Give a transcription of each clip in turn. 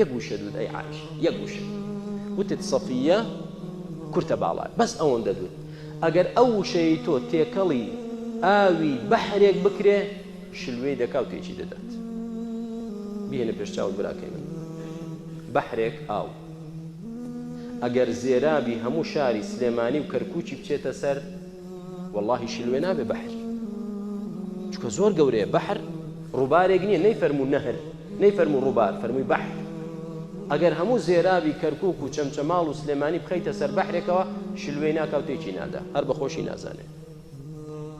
یەک وشە دوت ئەی عایشە یەک وشە وتت سەفیە کورتە باڵات بەس ئەوەندە دوت ئەگەر ئەو وشەی تۆ تێکەڵی ئاوی بەحرێک بکرێ شلوێی دەکا و تێکی دەدات بیهێنە پێش چاوت براکەی من بەحرێک ئاو ئەگەر زێرابی هەموو شاری سلێمانی و کەرکووکی بچێتە سەر واللهی شلوێ نابێ بەحر چکە زۆر گەورەیە بەحر ڕووبارێک نییە نەی فەرموو نەهر نەیفەرموو ڕووبار، فەرمووی بەحر. ئەگەر هەموو زێرابی کەرکووک و چەمچەماڵ و سلێمانی بخەیتە سەر بەحرێکەوە، شلوێی ناکا و تێکی نادا، هەر بە خۆشی نازانێ.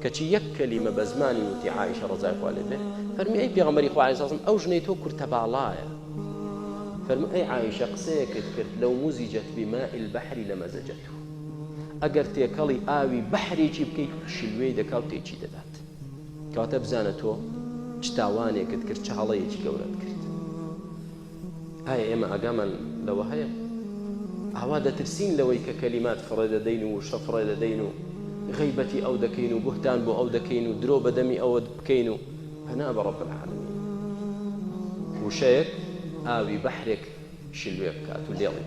کەچی یەک کەلیمە بە زمانی وتی عائیشە ڕەزای خوا لێ بێ، فەرمووی ئەی پێغەمبەری خوا علیە سڵام، ئەو ژنەی تۆ کورتەباڵایە. فەرمووی ئەی عائیشە قسەیەکت کرد لو مزجت بماء البحر لمزجته. ئەگەر تێکەڵی ئاوی بەحرێکی بکەیت، شلوێی دەکا و تێکی دەدات. کەواتە بزانە تۆ چ تاوانێکت کرد چ هەڵەیەکی گەورەت کرد ئایا ئێمە ئاگامان لەوە هەیە ئاوا دەترسین لەوەی کە کەلیمات فڕێ دەدەین و شە فڕێ دەدەین و غیبەتی ئەو دەکەین و بهتان بۆ ئەو دەکەین و درۆ بەدەمی ئەوە بکەین و پەنا بە ڕەب العالمین وشەیەک ئاوی بەحرێک شلوێ بکات و لێڵی